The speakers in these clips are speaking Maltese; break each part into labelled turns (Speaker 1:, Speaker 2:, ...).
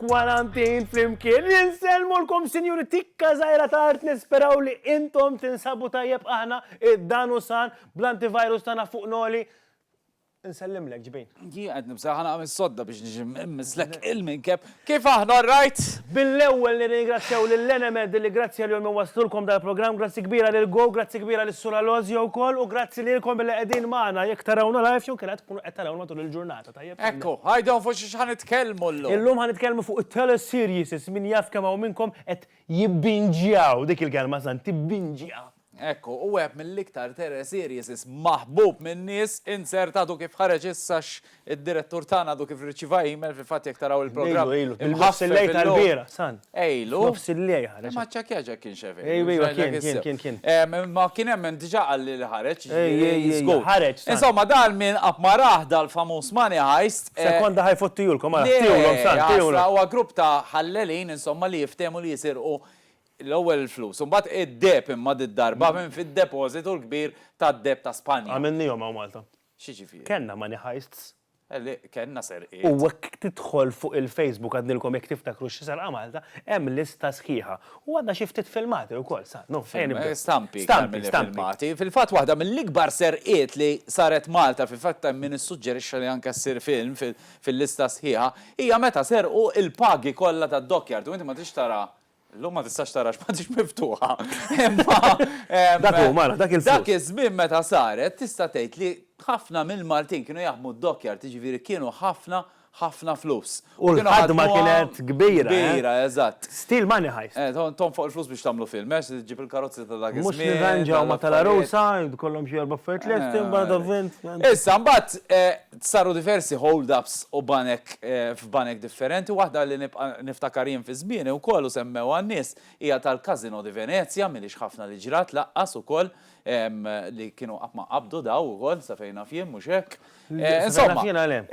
Speaker 1: Kwarantin
Speaker 2: flimkien, jinselmulkom sinjuri tikka zaħira ta' art nisperaw li intom tinsabu tajjeb aħna id-danu san bl-antivirus tana fuq noli Insellimlek, ġbin. Jien qed nibża' ħa nagħmel
Speaker 3: sodda biex niġi mmisslek il-minkeb. Kif aħna, all right? Bil-ewwel
Speaker 2: nirringrazzjaw lil Enemed li grazzi għalihom iwasslulkom dal-programm, grazzi kbira lil Go, grazzi kbira lis-Sur Alozio wkoll u grazzi lilkom billi qegħdin magħna jekk tarawna live jew inkella tkunu qed tarawna matul il-ġurnata, tajjeb? Ekku, għidhom fuq
Speaker 3: xiex ħa nitkellmu llum. Illum ħa nitkellmu fuq
Speaker 2: it-teleseries, min jaf kemm hawn minnkom qed jibbinġjaw, dik il-kelma, San, tibbinġja. Hekk hu, wieħed
Speaker 3: mill-iktar terror series maħbub min-nies, insert għadu kif ħareġ issa x' id-direttur tagħna għadu kif rriċieva email, fil-fatt jekk taraw il-programm imħaffef illum,
Speaker 2: ilu,
Speaker 3: imma
Speaker 2: ċċekkja jekk kienx hekk,
Speaker 3: jgħidlek issew,
Speaker 2: imma kien
Speaker 3: hemm min diġà qalli li ħareġ, jiġifieri żgur.
Speaker 2: Insomma dan
Speaker 3: min qatt ma rah dal-famuż money heist, Sekonda ħa jfottihulkom
Speaker 2: ara, tiewlhom san, tiewlhom. Huwa grupp ta'
Speaker 3: ħallelin insomma li jiftehmu li jisirqu L-ewwel il-flus u mbagħad id-deheb imma did-darba minn fid-depożitu l-kbir tad-deheb
Speaker 2: ta'
Speaker 3: Spanja. Għamilniehom
Speaker 2: hawn Malta.
Speaker 3: X'jiġifieri? Kellna money
Speaker 2: heists.
Speaker 3: Le, kellna serqiet. U hekk tidħol
Speaker 2: fuq il-Facebook għadnilkom jekk tiftakru xi serqa Malta, hemm lista sħiħa. U għandna xi ftit filmati wkoll sa, no, ejja nibdew. Stampi iktar
Speaker 3: milli filmati. Fil-fatt waħda mill-ikbar serqiet li saret Malta, fil-fatt hemm min issuġġerixxa li anke ssir film fil-lista sħiħa, hija meta serqu l-pagi kollha tad-dockyard u inti ma tridx tara Illum ma tistax tara għax m'għadhiex miftuħa. Imma Dak hu, mara, dak il-flus. Dak iż-żmien meta saret tista' tgħid li ħafna mill-Maltin kienu jaħdmu d-dockyard, jiġifieri kienu ħafna, ħafna flus. U l-ħadma
Speaker 2: kienet kbira. Kbira, eżatt.
Speaker 3: Steel money heist.
Speaker 2: Eh, tonfoq il-flus biex
Speaker 3: tagħmlu film, għax ġġib il-karozzi ta' dak iż-żmien. Mhux nirranġaw ma'
Speaker 2: tal-għarusa, jkollhom xi erba' affarijiet lesti, mbagħad avvent. Issa mbagħad
Speaker 3: Saru diversi hold ups u banek f'banek differenti, waħda li nibqa' niftakar jien fi żmieni wkoll u semmewha n-nies hija tal-Casino di Venezia, m'ilhiex ħafna li ġrat lanqas ukoll, li kienu qatt ma qabdu dawn ukoll sa fejn naf jien, mhux hekk? Insomma,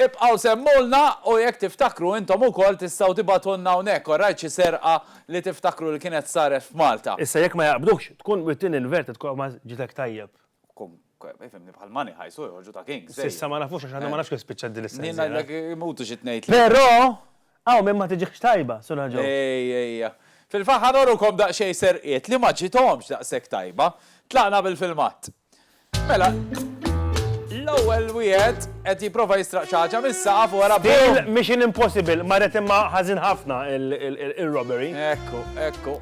Speaker 3: ibqgħu semmulna u jekk tiftakru intom ukoll tistgħu tibagħtulna hawnhekk, orajt xi serqa li tiftakru li kienet saret f'Malta. Issa jekk ma jaqbdukx,
Speaker 2: tkun wittni l-vert, it-tqogħma ġitek tajjeb. Fimni
Speaker 3: bħal money high, so joħorġu ta' king. Sissa ma nafux għax għadna ma nafx
Speaker 2: kif spiċċat din is-sena. Nien għalek imutu
Speaker 3: xi tnejt. Però,
Speaker 2: hawn minn ma tiġix tajba, Sura Joe. Ej, ejja.
Speaker 3: Fil-faħħa norukom daqsxejn serqiet li ma ġiethomx daqshekk tajba. Tlaqna bil-filmat. Mela, l-ewwel wieħed qed jipprova jistraq xi ħaġa mis-saqaf u wara bum! Mission
Speaker 2: Impossible, marret imma ħażin ħafna il-robbery. Ekku, ekku.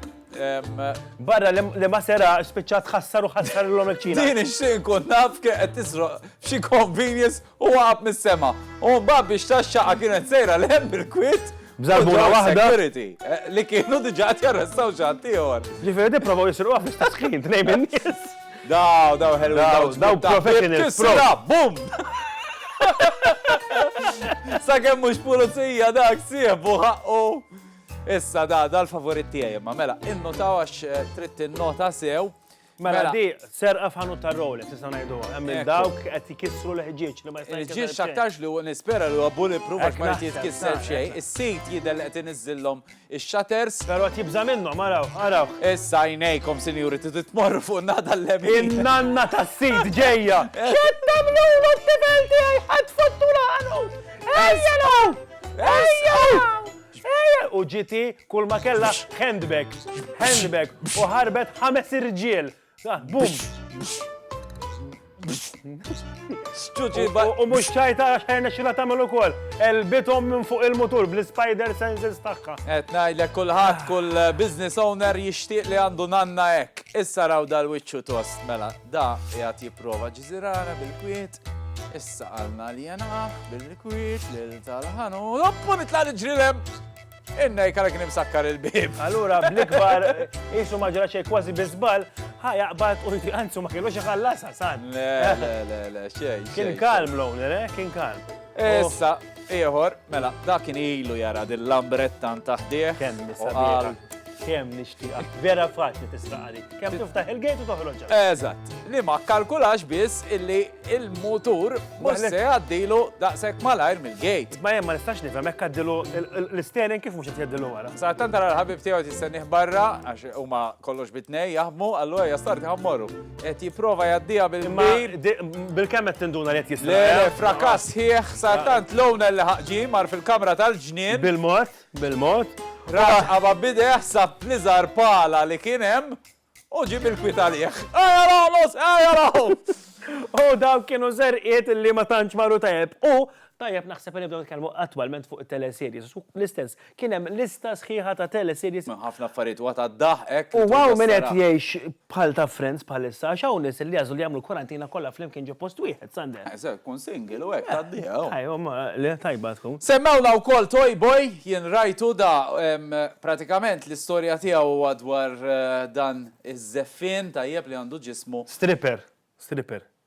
Speaker 2: Barra li ma sera spiċċa tħassar u ħassar l-lom il-ċina. Din ix-xin kun naf
Speaker 3: kien qed tisroq xi convenience u waqab mis-sema. U mbagħad biex taxxaqa kienet sejra l hemm bil-kwit. Bżarbuna waħda.
Speaker 2: Eh, li kienu
Speaker 3: diġa qed jarrestaw x'għad ieħor. Ġifieri di provaw jisruqha
Speaker 2: biex tasħin tnejn minn nies. Daw, daw
Speaker 3: ħelu. Daw, daw
Speaker 2: professionals. Bum!
Speaker 3: Sa kemm mhux pulizija dak siebu ħaqqu. Issa da, da l-favorit tiegħi imma mela, innotaw għax trid tinnota sew. Mela di
Speaker 2: serqa f'ħanut ta' Rolex nista' ngħiduha, hemm minn dawk qed jkissru l-ħġieġ li ma jista' jitkisser. Il-ħġieġ aktarx li
Speaker 3: nispera li huwa bulletproof għax ma jrid jitkisser xejn. Is-sid jidher li qed iniżżillhom ix-shutters. Però qed jibża' minnhom,
Speaker 2: araw, araw. Issa għajnejkom
Speaker 3: sinjuri tridu tmorru fuq nada l-lemin. In-nanna tas-sid
Speaker 2: ġejja. X'qed tagħmlu mat-tifel tiegħi ħadd fottula ħanut! Ejja lura! Ejja! U ġiti kull ma kellha handbag, handbag u ħarbet ħames irġiel. Bum! U mhux ċajta għax ħajna xila tagħmel ukoll. Elbithom minn fuq il-mutur bl-spider senses tagħha. Qed ngħidlek kulħadd
Speaker 3: kull business owner jixtieq li għandu nanna hekk. Issa raw dal-wiċċu tost mela. Da qiegħed jipprova jġżirana bil-kwiet, issa qalna li jenqah bil-kwiet lil tal-ħanu. Oppu nitla' niġri lem! Inna jkara kien imsakkar il-bib. Allura bl-ikbar
Speaker 2: jisu ma ġra xejn kważi biżbal, ħa jaqbad u anzu ma kienux iħallasha san. Le, le, le, le,
Speaker 3: xejn. Kien kalm l-owner,
Speaker 2: eh? Kien kalm. Issa,
Speaker 3: Ieħor, mela, dak kien ilu jara din lambretta ntaħdieħ. Kemm nisabieħ.
Speaker 2: Kemm nixtieqak. Vera faċli tisraqali. Kemm tiftaħ il-gate u toħroġ. Eżatt. Li ma
Speaker 3: kalkulax biss illi il-mutur mhux se għaddilu daqshekk malajr mill-gate. Ma hemm ma nistax nifhem hekk
Speaker 2: għaddilu l-isterin kif mhux qed jgħaddilu wara. Sa tant tara l-ħabib tiegħu
Speaker 3: tistennih barra għax huma kollox bitnej jaħdmu, allura jastarti ħammorru. Qed jipprova jgħaddiha bil-kbir. Bil-kemm qed
Speaker 2: tinduna li qed jisra. Le, le, frakass
Speaker 3: sħiħ sa tant Lowna li ħaqġi mar fil-kamra tal-ġnien. Bil-mod, bil-mod.
Speaker 2: Raġqaba
Speaker 3: b'idejh sab l-iżgħar pala li kien hemm u ġie bil-kwiet għalih. Ejja raħlos, ejja raħu!
Speaker 2: U dawk kienu żerqiet li ma tantx marru tajjeb. U tajjeb naħseb li nibdew nitkellmu attwalment fuq it-teleserjes. L-istess Kien hemm lista sħiħa ta' teleseries. Hemm ħafna affarijiet huwa ta'
Speaker 3: daħqek. U hawn min qed
Speaker 2: jgħix bħal ta' Friends bħalissa għax hawn nies li għażlu li jagħmlu l-kwarantina kollha flimkien ġo post wieħed, Sander. Eżatt, kun single u
Speaker 3: hekk tgħaddiha. Ajwa, ma le,
Speaker 2: tajba tkun. Semmewna wkoll Toy
Speaker 3: Boy, jien rajtu da, pratikament l-istorja tiegħu huwa dwar dan iż-żeffien tajjeb li għandu ġismu. Stripper,
Speaker 2: stripper.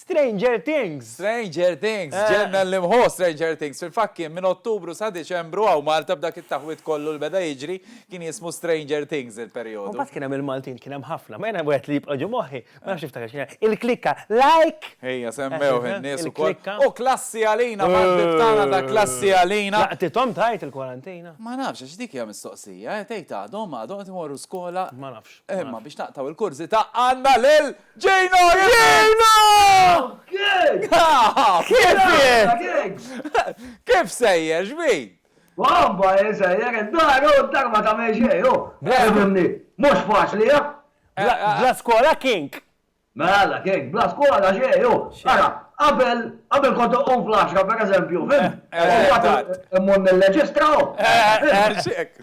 Speaker 2: Stranger Things! Stranger Things!
Speaker 3: Ġenna li mħo Stranger Things! Fil-fatt kien minn Ottubru sa Diċembru hawn Malta b'dak it-taħwid kollu li beda jiġri, kien jismu Stranger Things il-perjodu. U mbagħad kien hemm il-Maltin, kien
Speaker 2: hemm ħafna. Ma jiena wieħed li jibqa' ġo moħħi, ma nafx niftakar x'kien, il-klikka, like! Ejja, semmewh
Speaker 3: in-nies ukoll. Il-klikka. U klassi għalina, mal-ħbieb tagħna ta' klassi għalina. Laqtithom tajt
Speaker 2: il-kwarantina? Ma nafx, għax dik hija
Speaker 3: mistoqsija, eh, tgħid għadhom, għadhom qed imorru skola. Ma nafx. Imma
Speaker 2: biex naqtgħu
Speaker 3: l-kurżità għandna lil. Ġejna! Ġejna! Kif jien? Kif sejjer, x'bik? Wabba, jien
Speaker 4: sejjer id-dar, u d-dar ma tagħmel xejn, u. Efhimni, mhux faċli, ha? Bla
Speaker 2: skola, King? Mela,
Speaker 4: King, bla skola xejn, u. Ara, qabel, qabel kont inqum fl-għaxra, pereżempju, fimt? U mbagħad immur nirreġistra, u. Hekk.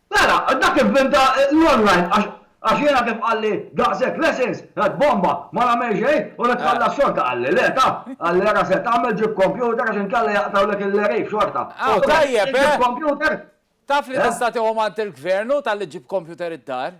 Speaker 2: Mela,
Speaker 4: dak ivvinta l-online għax għax jiena kif qalli daqshekk lessons, qed bomba, ma nagħmel xejn u li tħalla s-xorta qalli le ta, qalli ara se tagħmel ġib computer għax inkella jaqtgħulek il-leriv xorta. Aw tajjeb eh! Taf li tista'
Speaker 3: tieħu mant il-gvern hu talli ġġib computer id-dar.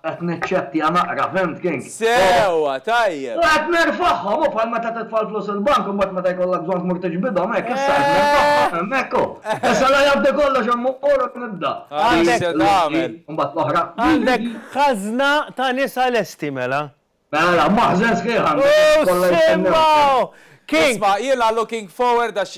Speaker 4: Qed niċċettja naqra, fhimt King? Sewwa,
Speaker 3: tajjeb! U qed nerfagħhom,
Speaker 4: hu bħal meta titfa' l-flus il-bank u mbagħad meta jkollok bżonn tmur tiġbidhom, hekk, issa qed nerfagħhom, hemmhekk hu. Issa la jgħaddi kollox hemm u mmur u nibda. Għandek. Mbagħad l-oħra.
Speaker 2: Għandek ħażna ta' nisa lesti mela. Mela, maħżen
Speaker 4: sħiħ
Speaker 2: għandek għax kollha jistennewk. Isma' jiena looking
Speaker 3: forward għax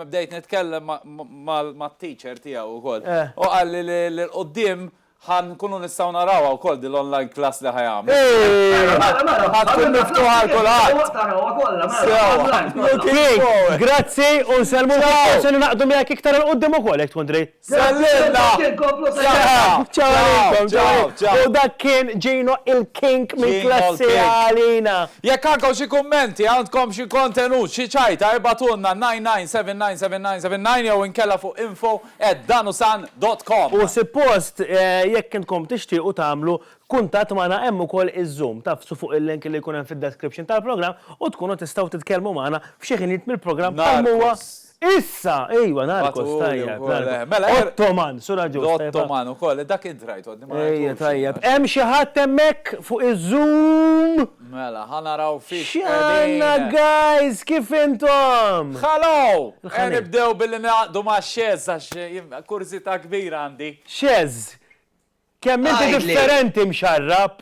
Speaker 3: bdejt nitkellem mat-teacher tiegħu wkoll. Hu qalli li l-quddiem ħa nkunu nistgħu narawha wkoll din l-online class li ħa jagħmel. Mela, mela, mela. Ħa tkun miftuħa għal kulħadd. Tarawha kollha, mela. Looking forward.
Speaker 2: Grazzi u nsellmu lil Paul se ningħaqdu miegħek iktar 'il quddiem ukoll jekk tkun trid. Żgħażilna!
Speaker 3: Saħħa! Ċaw għalikom,
Speaker 2: ċaw għalikom. U dak kien Gino il King minn Klassi Għalina. Jekk għandkom xi
Speaker 3: kummenti, għandkom xi kontenut, xi ċajta, ibgħatulna 99799979 jew inkella fuq info@danusan.com. U sippost
Speaker 2: jekk intkom tixtiequ tagħmlu kuntatt magħna hemm ukoll iż-Zoom. Tagħfsu fuq il-link li jkun hemm fid-description tal-programm u tkunu tistgħu titkellmu magħna f'xi ħinijiet mill-programm bħalma huwa. Issa, ejwa, Narcos, tajjeb. Mela, Ottoman, sura ġust. Ottoman ukoll, dak
Speaker 3: int rajt għodni ma rajt. Ejja, tajjeb. Hemm
Speaker 2: xi ħadd hemmhekk fuq iż-Zoom? Mela, ħa
Speaker 3: naraw fiex. X'għandna
Speaker 2: guys, kif intom? Ħalo! Ejja
Speaker 3: nibdew billi naqdu ma' Xezz għax kurżità kbira għandi. Xezz,
Speaker 2: kemm inti differenti mxarrab!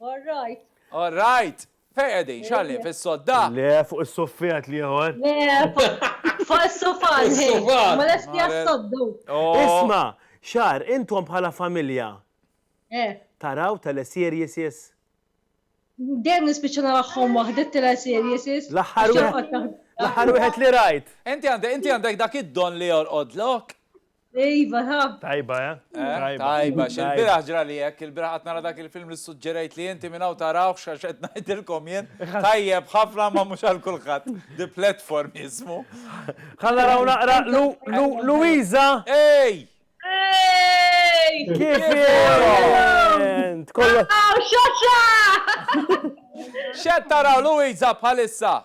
Speaker 5: All right. All right.
Speaker 3: Fejn qegħdin? X'għalli fis-sodda? Le, fuq is-suffett
Speaker 2: l-ieħor. Le,
Speaker 5: fuq is-sufan. Is-sufan. Ma lesti għas-soddu. Isma',
Speaker 2: Xar, intom bħala familja. Eh. Taraw teleseriesses?
Speaker 5: Dejjem nispiċċa narahhom waħdi t-teleseriesses.
Speaker 2: L-aħħar wieħed. L-aħħar wieħed li rajt. Inti għandek
Speaker 3: dak id-don li jorqodlok? Iva, ha.
Speaker 5: Tajba, eh?
Speaker 2: Tajba,
Speaker 3: xil-biraħ ġra li jek, il-biraħ għat nara dak il-film li suġġerajt li jinti minnaw taraw xaxet najdilkom jen. Tajjeb, ħafna ma mux għal kulħat. The platform jismu. Għalla raw
Speaker 2: naqra Luisa. Ej!
Speaker 3: Ej!
Speaker 2: Kif jent? Kollu.
Speaker 5: Xaxa!
Speaker 3: Xed taraw Luisa bħalissa.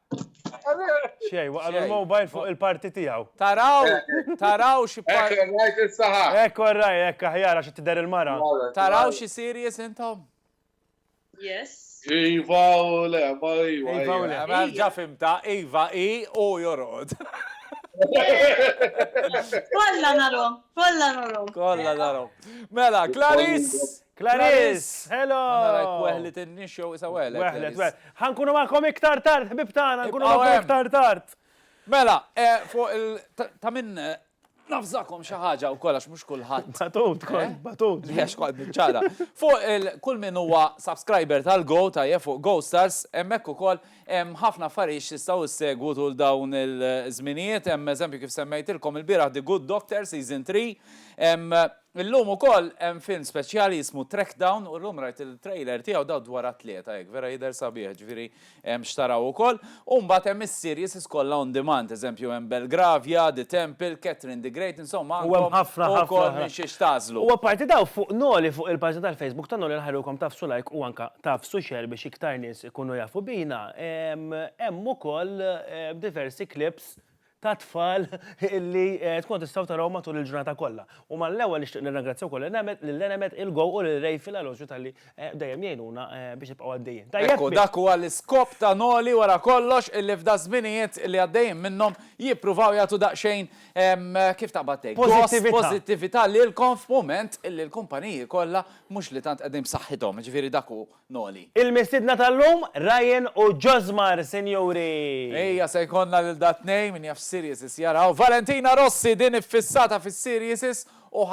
Speaker 2: Xej, waqal il-mobile fuq il-parti tiegħu. Taraw, taraw
Speaker 3: xi parti. Ekk rajt is-saħa.
Speaker 2: Ekk orraj, ekk aħjar għax tidher il-mara. Taraw xi
Speaker 3: series intom?
Speaker 6: Yes. Iva
Speaker 7: u le, ma iva. Iva u le. Ġa fimta,
Speaker 3: iva i u jorqod.
Speaker 5: Kolla narom, kolla narom. Kolla narom.
Speaker 3: Mela, Clarice. Clarice!
Speaker 2: Hello! Għanna rajk weħlet
Speaker 3: in-nix jew isa weħlet. Weħlet, weħlet. Ħankunu
Speaker 2: magħkom iktar tard, ħbib tagħna, nkunu magħkom iktar tard. Mela, e,
Speaker 3: fuq il ta' minn e, nafżakom xi ħaġa wkoll għax mhux kulħadd. Batut, kont, e? batut.
Speaker 2: Għax kont
Speaker 3: ċara. Fuq il kull min huwa subscriber tal-Go ta' jef fuq Go Stars, hemmhekk ukoll hemm ħafna affarijiet jistgħu ssegwu tul dawn il-żminijiet, hemm eżempju kif semmejtilkom il-bieraħ The Good Doctor Season 3, Illum ukoll hemm film speċjali jismu Trackdown u llum rajt il-trailer tiegħu daw dwar attleta hekk vera jidher sabiħ ġifieri hemm x'taraw ukoll u mbagħad hemm is-series is kollha on demand eżempju hemm Belgravia, The Temple, Catherine the Great insomma għandkom ukoll
Speaker 2: minn xiex
Speaker 3: tagħżlu. U apparti daw fuq
Speaker 2: Noli fuq il-paġna tal-Facebook ta' Noli nħarrgukom tagħfsu like u anke tagħfsu share biex iktar nies ikunu jafu bina hemm ukoll diversi clips ta' tfal li tkunu tistgħu taraw matul il-ġurnata kollha. U mal-ewwel nixtieq nirrangrazzja wkoll lil Enemed, il-Go u lil Ray fil-Alosju talli dejjem jgħinuna biex nibqgħu għaddejjin. Tajjeb? Ekku, dak huwa
Speaker 3: l-iskop ta' Noli wara kollox, illi f'daż-żminijiet li għaddejjin minnhom jippruvaw jagħtu daqsxejn, kif taqbad tgħid? Pożittività. Dos, pożittività lilkom f'mument illi l-kumpaniji kollha mhux li tant qegħdin b'saħħithom, jiġifieri dak hu. Noli. Il-mistiedna tal-lum,
Speaker 2: Ryan u Josmar, sinjuri! Ejja se
Speaker 3: jkollna lil da tnejn, min jaf x'sirieses jaraw. Valentina Rossi din iffissata fis-sirieses u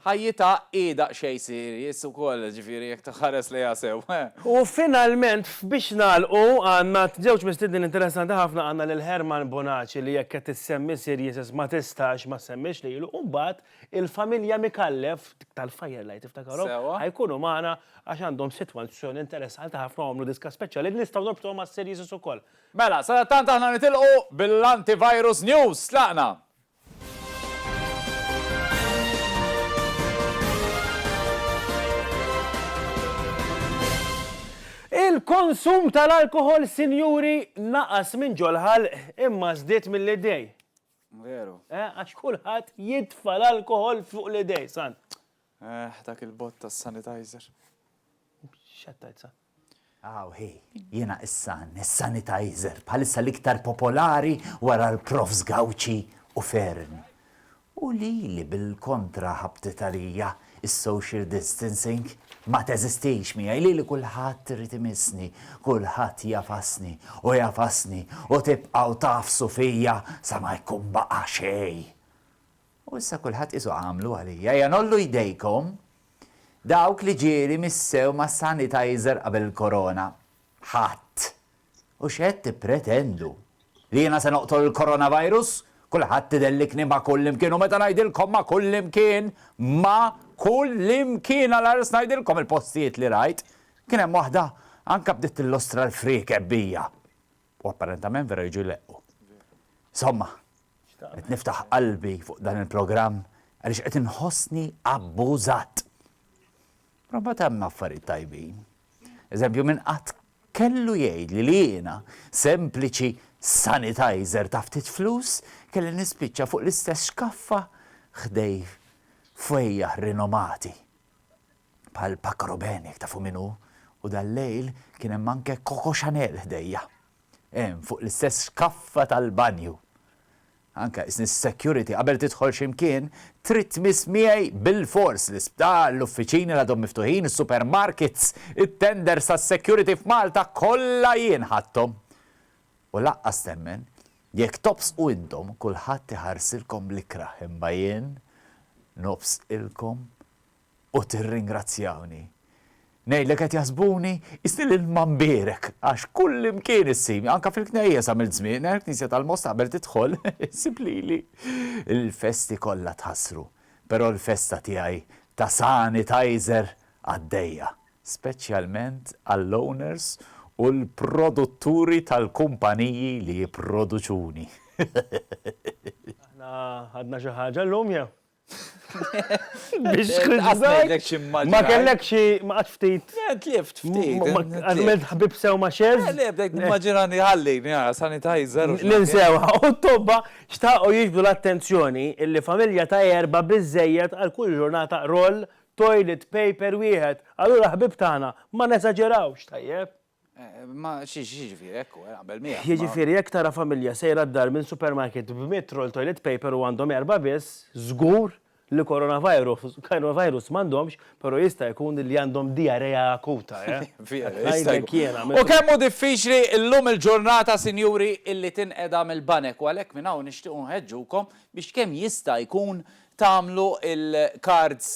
Speaker 3: ħajjitha hi daqsxejn serious ukoll, ġifieri jekk tħares lejha sew. U finalment
Speaker 2: f'Biex Nagħlqu għandna żewġ mistiednin interessanti ħafna, għandna lil Herman Bonaci li jekk qed issemmi sirieses ma tistax ma ssemmix lilu u mbagħad Il-familja Micallef, dik tal-Fire Light iftakarhom, Sewwa. ħajkunu magħna għax għandhom sitwazzjoni interessanti ħafna u għamlu diska speċjali li nistgħu norbtuha mas-series ukoll. Mela, sadattant
Speaker 3: aħna nitilqu bil-Antivirus News. Tlaqna!
Speaker 2: Il-konsum tal-alkoħol, sinjuri, naqas minn ġol-ħalq imma żdied mill-idej. Veru.
Speaker 3: Eh, għax kulħadd
Speaker 2: jitfa' l-alkohol fuq l-idej, san. Eh, dak
Speaker 3: il-bot ta' sanitizer.
Speaker 2: Xattajt san. Aw, hi,
Speaker 8: jena issa sanitizer, bħalissa l-iktar popolari wara l-profs Gawċi u Fern. U li li bil-kontra ħabtitarija is-social distancing ma teżistix miegħi, lili kulħadd irid imissni, kulħadd jagħfasni u jagħfasni u tibqgħu tagħfsu fija sa ma jkun baqa' xejn. U issa kulħadd qisu għamlu għalija, ejja ngħollu jdejkom dawk li ġieli missew mas-sanitizer qabel il-korona. Ħadd! U x'qed tippretendu? Li jiena se noqtol il-coronavirus? Kulħadd idellikni ma' kullimkien u meta ngħidilkom ma' kullimkien, ma' kullimkien għal ars ngħidilkom il-postijiet li rajt, kien hemm waħda anke bdiet tillustra l-friekeb bija. U apparentament vera jiġu jleqqu. Insomma, qed niftaħ qalbi fuq dan il-programm għaliex qed inħossni abbużat. Però mbagħad hemm affarijiet tajbin. Eżempju, min qatt kellu jgħidli li jiena, sempliċi sanitizer ta' ftit flus, kelli nispiċċa fuq l-istess xkaffa ħdej fwejjaħ rinomati bħal Paco Rabanne, jekk tafu min hu, u dal-lejl kien hemm anke Coco Chanel ħdejja. Hemm fuq l-istess xkaffa tal-banju. Anke s-security qabel tidħol xi mkien trid tmiss miegħi bilfors l-isptar, l-uffiċini l-għadhom miftuħin, is-supermarkets, it-tenders tas-security f'Malta kollha jien ħadthom. U lanqas temmen, jekk tobsqu intom kulħadd iħarsilkom bl-ikrah imma jien nobsqilkom u tirringrazzjawni. Ngħidlek qed jaħsbuni qisni lil Manbierek għax kullimkien issibni, anke fil-knejjes għamilt żmienna, il-Knisja tal-Mostaqbel tidħol issib lili. Il-festi kollha tħassru, però l-festa tiegħi ta' sanitizer għaddejja, speċjalment għall-owners u l-produtturi tal-kumpaniji li jipproduċuni. Aħna
Speaker 2: ħadna xi ħaġa llum jew? Biex tħiżżajk.
Speaker 3: Ma kellek xi
Speaker 2: ma qatt ftit. Tlift ftit.
Speaker 3: Għamilt ħbib
Speaker 2: sew ma' xeż. Le, bdejt nimmaġinani
Speaker 3: ħallini ara sanitizer. L-insewħa u
Speaker 2: t-tobba xtaqgħu jiġbdu l-attenzjoni illi familja ta' erbgħa biżżejjed għal kull ġurnata roll toilet paper wieħed. Allura ħbieb tagħna, ma nesaġerawx, tajjeb? Ma
Speaker 3: x'jiġifieri hekk hu, naqbel miegħek. Jiġifieri jekk tara familja
Speaker 2: sejra d-dar minn supermarket b'mitt roll toilet paper u għandhom erbgħa biss, żgur li coronavirus m'għandhomx, però jista' jkun li għandhom diarrea akuta, eh. Vera, jista' jkun.
Speaker 3: U kemm hu diffiċli llum il-ġurnata, sinjuri, illi tinqeda mill-banek u għalhekk minn hawn nixtiequ nħeġġukom biex kemm jista' jkun tagħmlu l-kards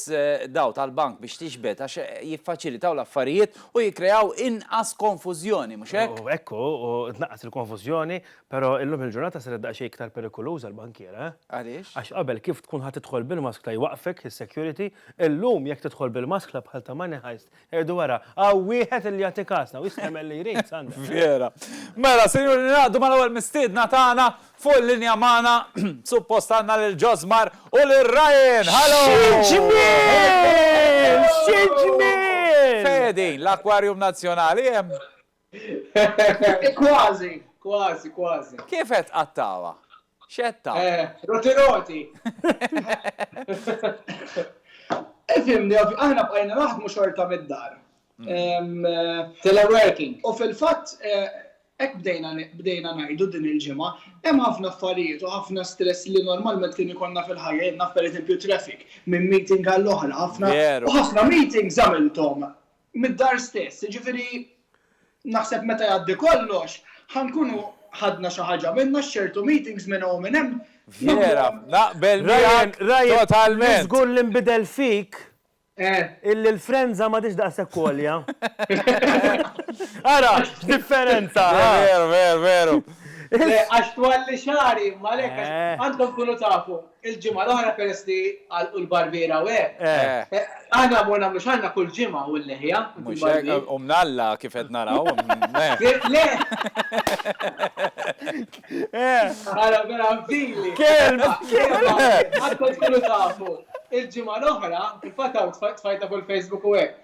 Speaker 3: dawn tal-bank biex tixbed għax jiffaċilitaw l-affarijiet u jikkreaw inqas konfużjoni, mhux hekk? Hekk hu, u tnaqqas
Speaker 2: il-konfużjoni, però illum il-ġurnata saret daqsxejn iktar perikoluża l-bankiera, eh? Għaliex? Għax qabel
Speaker 3: kif tkun
Speaker 2: ħa tidħol bil-maskla jwaqqfek is-security, illum jekk tidħol bil-maskla bħal ta' Money Heist Erdu wara, hawn wieħed illi jagħti kasna u jista' jagħmel li jrid, Sandra. Vera.
Speaker 3: Mela, sinjuri, ningħaqdu mal-ewwel mistiedna tagħna, fuq il-linja magħna, suppost għandna lil Josmar u lil Ryan! Hallo! Xi ġmiel! Xi ġmiel! Fejn qegħdin? L-Aquarium Nazzjonali hemm? Kważi,
Speaker 9: kważi, kważi. Kif qed
Speaker 3: tqattagħha? X'qed ta? Roti roti!
Speaker 9: Ifhimni, aħna bqajna naħdmu xorta mid-dar. Teleworking. U fil-fatt hekk bdejna bdejna ngħidu din il-ġimgħa, hemm ħafna affarijiet u ħafna stress li normalment kien ikollna fil-ħajja, jien naf pereżempju traffic minn meeting għall-oħra, ħafna u ħafna meetings għamilthom mid-dar stess. Jiġifieri naħseb meta jgħaddi kollox, ħa nkunu ħadna xi ħaġa minnha x'ċertu meetings minn hawn minn hemm. Vera,
Speaker 3: naqbel miegħek totalment. Ryan, żgur li nbidel
Speaker 2: fik illi l-frenża m'għadhiex daqshekk għolja. Ara, x'differenza! Veru, veru,
Speaker 3: veru. Le,
Speaker 9: għax twalli xagħri, imma għalhekk għax għandkom tkunu tafu. Il-ġimgħa l-oħra peress li għalqu l-barbiera u hekk. Eh. Aħna mor nagħmlu xagħarna kull ġimgħa u l-leħja. Mhux hekk, u
Speaker 3: mnalla kif qed naraw. Le!
Speaker 9: Ara vera fdili. Kelb! Għad kont tkunu tafu. Il-ġimgħa l-oħra, fil-fatt hawn tfajta fuq il-Facebook u hekk.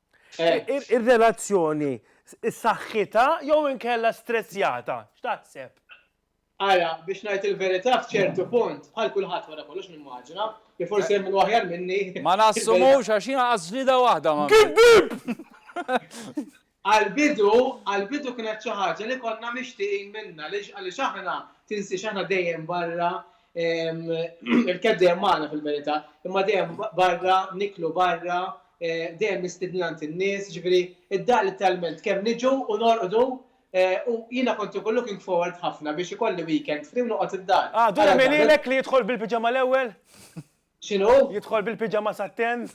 Speaker 2: Ir-relazzjoni saħħitha jew inkella strezzjata? X'taħseb? Ara,
Speaker 9: biex ngħid il-verità f'ċertu punt, bħal kulħadd wara kollox nimmaġina, li forsi hemm minnu aħjar minni. Ma nassumux
Speaker 3: għax jien għaqadt ġlieda waħda ma. Giddieb!
Speaker 9: Għall-bidu, għall-bidu kienet xi ħaġa li konna mixtieqin minnha għaliex aħna, tinsiex aħna dejjem barra, Il-keb dejjem magħna fil-verità, imma dejjem barra, niklu barra, eh, dejjem nistidnant in-nies, ġifieri id-dar literalment kemm niġu u norqdu eh, u jiena kont ikun looking forward ħafna biex ikolli weekend free u noqgħod id-dar. Għadu jagħmililek li
Speaker 2: jidħol bil-piġama l-ewwel? X'inhu?
Speaker 9: Jidħol bil-piġama
Speaker 2: satten?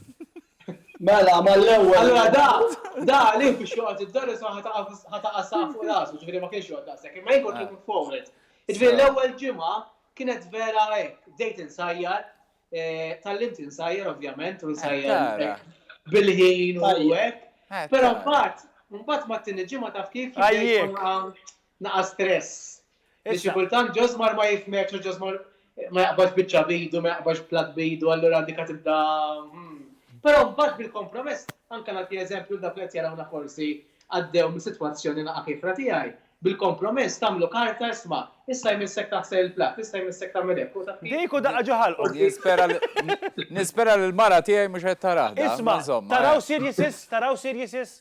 Speaker 9: Mela, mal-ewwel. Allura da, da għalih biex joqgħod id-daris ma ħa taqa' saq fuq rasu, ġifieri ma kienx joqgħod daqshekk, imma jien kont looking forward. Ġifieri l-ewwel ġimgħa kienet vera hekk, bdejt insajjar, tgħallimt insajjar ovvjament u nsajjar bil-ħin u hekk. Però mbagħad, mbagħad mat-tieni ġimgħa taf kif? Naqas stress. Biex xi kultant Ġożmar ma jifhmekx u Ġożmar ma jaqbadx biċċa b'idu, ma jaqbadx platt b'idu, allura dik qed tibda hm. Però mbagħad bil-kompromess, anke nagħti eżempju dawk li qed jarawna forsi għaddew minn sitwazzjoni naqgħa kiefra tiegħi, bil-kompromess tagħmlu karta isma', issa jmissek taħsel il-platt, issa jmissek tagħmel hekk, u taf kif? Dik u daqqa ġo ħalqhom.
Speaker 2: Nispera li
Speaker 3: nispera li l-mara tiegħi mhux qed tarah dan, ma insomma. Isma', taraw
Speaker 2: seriousness, taraw seriousness?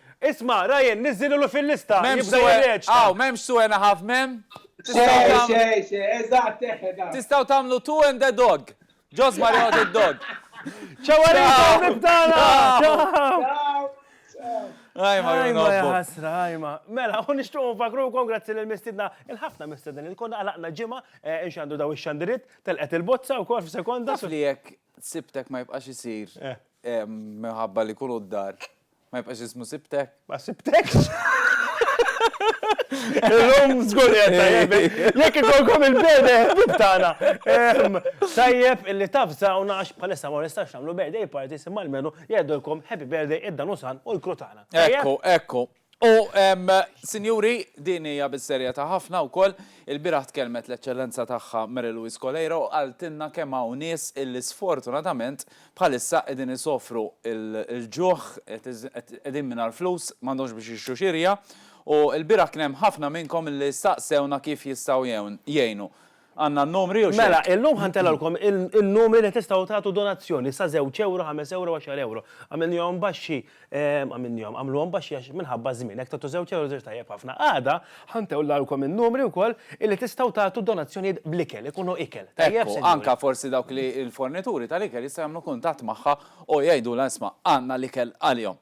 Speaker 3: Isma,
Speaker 2: Ryan, niżżililu fil-lista, jibda jirreċta. Aw, m'hemmx
Speaker 3: two and a half men? Tistgħu tagħmlu. Tistgħu tagħmlu two and a dog. Ġo żmar joqgħod id-dog. Ciao għalikom
Speaker 2: ħbieb tagħna! Ciao!
Speaker 3: Ajma, ajma, ħasra,
Speaker 2: ajma. Mela, u nishtuq nfakru kon grazzi l-mistidna, il-ħafna mistidna li konna għalaqna ġimma, eh, inxandu daw ix-xandirit, telqet il-bozza u kol f-sekonda. Fli jek,
Speaker 3: sibtek ma jibqax isir. Eh. Minħabba li jkunu d-dar. Ma jibqax jismu sibtek. Ma sibtekx.
Speaker 2: Illum żgur li qed tajjeb. Jekk ikolkom il-bede ħbib tagħna. Tajjeb illi tavżawna għax bħalissa ma nistax nagħmlu birthday parties imma almenu jgħidulkom happy birthday id-danusan u l-kru tagħna. Ekku, ekku.
Speaker 3: U, sinjuri, din hija bis-serjetà ħafna wkoll, ilbieraħ tkellmet l-Eċċellenza Tagħha Mary Louise Coleiro u qaltilna kemm hawn nies illi sfortunatament bħalissa qegħdin isofru l-ġuħ, qegħdin mingħajr flus, m'għandhomx biex jixtru xirja, u ilbieraħ kien hemm ħafna minnkom illi staqsewna kif jistgħu jgħinu. Għandna n-numri jew x'hekk? Mela, illum ħa ntelgħulkom
Speaker 2: in-numri li tistgħu tagħtu donazzjoni sa żewġ ewro, ħames ewro, għaxar ewro. Għamilnihom baxxi, għamilnihom, għamluhom baxxi għax minħabba ż-żmien. Jekk tagħtu żewġ ewro żewġ tajjeb ħafna. Għada ħa ntewllawlkom in-numri wkoll illi tistgħu tagħtu donazzjonijiet bl-ikel, ikunu ikel. Tajjeb, sinjuri? Ekku, anke forsi
Speaker 3: dawk li l-fornituri tal-ikel jistgħu jagħmlu kuntatt magħha u jgħidulha isma' għandna l-ikel għalihom.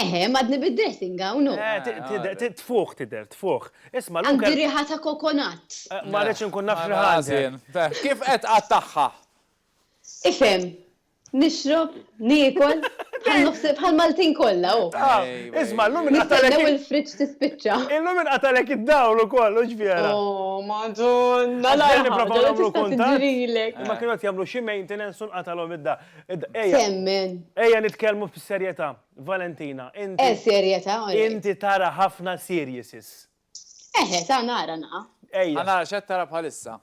Speaker 2: Eħe, madni
Speaker 5: bid-dressing hawn. Eh, tfuħ
Speaker 2: tider, tfuħ. Isma' l-lum. Għandi riħa ta'
Speaker 5: kokonat. Eh, ma rridx inkun naf
Speaker 2: x'ħażin. Kif qed
Speaker 3: qattagħha?
Speaker 5: Ifhem, nixrob, niekol, bħal Maltin kollha u. Ah, isma' llum
Speaker 2: inqatalek. Nistennew il-friġġ tispiċċa.
Speaker 5: Illum inqatalek
Speaker 2: id-dawl ukoll, u ġvjera. Oh,
Speaker 5: madonna. Għalli nipprova nagħmlu kuntat.
Speaker 2: Ma kienu qed jagħmlu xi maintenance u nqatalhom id-dawl. Temmen.
Speaker 5: Ejja nitkellmu
Speaker 2: b'serjetà, Valentina, inti. Eh, serjetà,
Speaker 5: all right. Inti tara
Speaker 2: ħafna serieses. Eħe, ta'
Speaker 5: nara na. Ejja. Ħa nara x'qed tara
Speaker 2: bħalissa.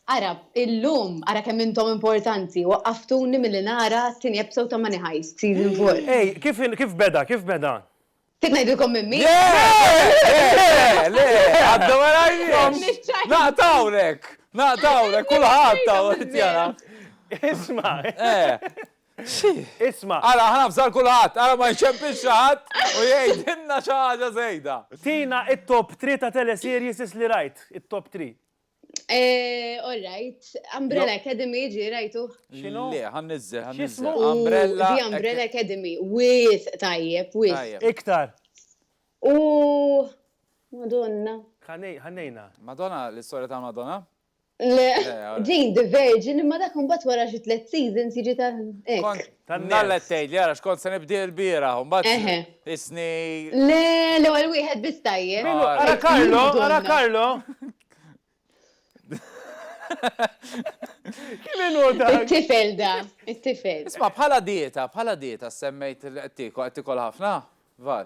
Speaker 3: Ara,
Speaker 5: illum, ara kemm intom importanti, waqqaftuni milli nara t-tieni episode ta' Money Heist, season four. Ej, kif
Speaker 2: beda, kif beda? Trid
Speaker 5: ngħidilkom minn min? Le,
Speaker 3: le, għadda ma rajniex. Naqtawlek, naqtawlek, kulħadd taw jara. Isma.
Speaker 2: Isma. Ara, ħana fżar kulħadd,
Speaker 3: ara ma jċempix xaħat u jgħidilna xi ħaġa żejda. Tina it-top
Speaker 2: 3 ta' teleseries li rajt, it-top 3. Eh,
Speaker 5: all right. Umbrella Academy ġi rajtu. Xinu? Le, għan
Speaker 3: nizzel, għan nizzel. Umbrella. Di Umbrella Academy.
Speaker 5: With, tajjeb, with. Iktar.
Speaker 2: U.
Speaker 5: Madonna. Għannejna.
Speaker 2: Madonna, l-istoria
Speaker 3: ta' Madonna? Le,
Speaker 5: Jane the Virgin, imma dak un bat wara xi tlet seasons jiġi ta' Tannella qed tgħidli
Speaker 3: ara x'kont se nibdi l-bieraħ u mbagħad isni. Le,
Speaker 5: l-ewwel wieħed biss tajjeb. Ara Karlo, ara
Speaker 2: Karlo. Kien
Speaker 5: inhu dak. It-tifel da, it-tifel. Isma' bħala dieta,
Speaker 3: bħala dieta semmejt qed tiekol, qed tiekol ħafna? Var.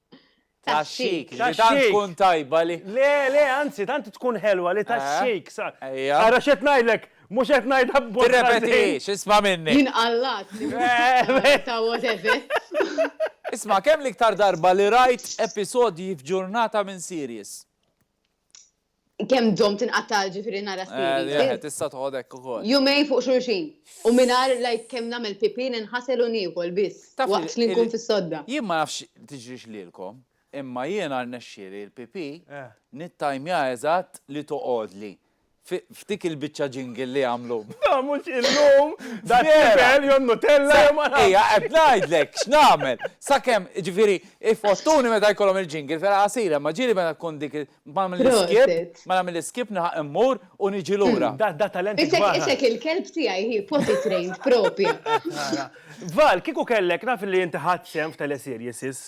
Speaker 3: Taxxik. Li tant tkun tajba li. Le, le, anzi,
Speaker 2: tant tkun ħelwa li taxxik. Ara x'qed ngħidlek, mhux qed ngħidha b'mod ħażin. Tirrepetix, isma'
Speaker 3: minni. Jien qallat li
Speaker 5: mhux ta' whatever. Isma',
Speaker 3: kemm l-iktar darba li rajt episodji f'ġurnata minn series?
Speaker 5: Kem dom tinqatta ġifiri nara eh, s-siri. Jahe, tista toħodek u kol.
Speaker 3: Jumej fuq xurxin.
Speaker 5: U minar lajk kem namel pipin nħasel u nikol bis. Waqt li nkun fis-sodda. Jien ma nafx tiġrix
Speaker 3: lilkom, imma jiena rnexxieli l-pipi eh. nittajmja eżatt li toqgħodli. F'dik il-biċċa ġingil li għamlu. Da mhux illum,
Speaker 2: da tifel jew nutella jew ma Ejja qed
Speaker 3: ngħidlek x'nagħmel. Sakemm ġifieri ifottuni meta jkollhom il-ġingil fela qasira, ma ġieli meta tkun dik il- Mela mill-iskip, mela mill-iskip nilħaq immur u niġi lura. Da da talent kbar ħafna. Isek,
Speaker 2: isek il-kelb
Speaker 5: tiegħi hi potty trained propja.
Speaker 2: Val, kieku kellek, naf li inti ħadt sehem f'teleseries, sis.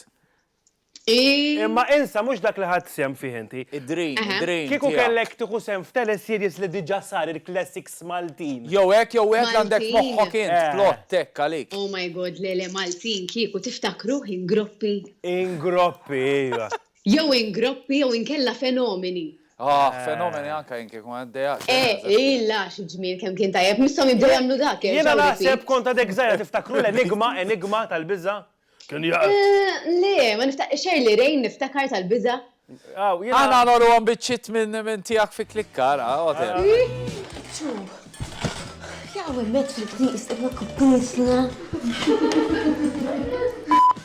Speaker 2: Iih. Imma insa mhux dak li ħadt sehem fih inti. Id-dream, id-dream tiegħek.
Speaker 3: Kieku kellek
Speaker 2: tieħu sehem f'teleseries li diġà sar il-classics Maltin. Jew hekk jew hekk
Speaker 3: għandek f'moħħok int plott hekk għalik. Oh my God, le le
Speaker 5: Maltin, kieku tiftakruh Ingroppi? Ingroppi,
Speaker 2: ejwa. Jew in groppi
Speaker 5: jew inkella fenomeni. Aah fenomeni
Speaker 3: anka jien kieku għaddejja xejn għażilt. Eeh illah
Speaker 5: xi ġmiel kemm kien tajjeb misshom jibdew jagħmlu dak jerġgħu
Speaker 2: repeat.
Speaker 5: Jiena
Speaker 2: naħseb
Speaker 5: kont
Speaker 2: għadek żgħira tiftakru l-enigma
Speaker 5: enigma
Speaker 2: tal-biża'? Kien jgħid. Eeh le ma
Speaker 5: niftakar Shirley Raine niftakar tal-biża'. Aw jiena. Aħna
Speaker 3: nagħmluhom biċċiet minn tiegħek fi klikka ara għoten. Ġew
Speaker 10: jaqgħu hemmhekk fil-knis imma kbisna.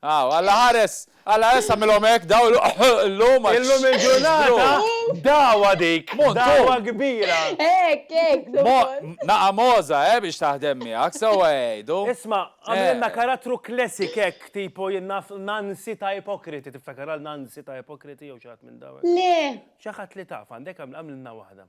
Speaker 3: Aw, Alla ħares! Alla ħares tagħmilhom hekk dawl illum għax. Illum il-ġurnata
Speaker 2: dagħwa dik, dagħwa kbira. Hekk, hekk,
Speaker 5: żomm. Naqa'
Speaker 3: mogħża, eh, biex taħdem miegħek, sewwa jgħidu. Isma', għamlilna
Speaker 2: karattru classic hekk, tipo jien naf Nancy ta' Ipokriti, tiftakar għal Nancy ta' Ipokriti jew xi ħadd minn dawn? Le. Xi ħadd li
Speaker 5: taf għandek
Speaker 2: għamlilna waħda.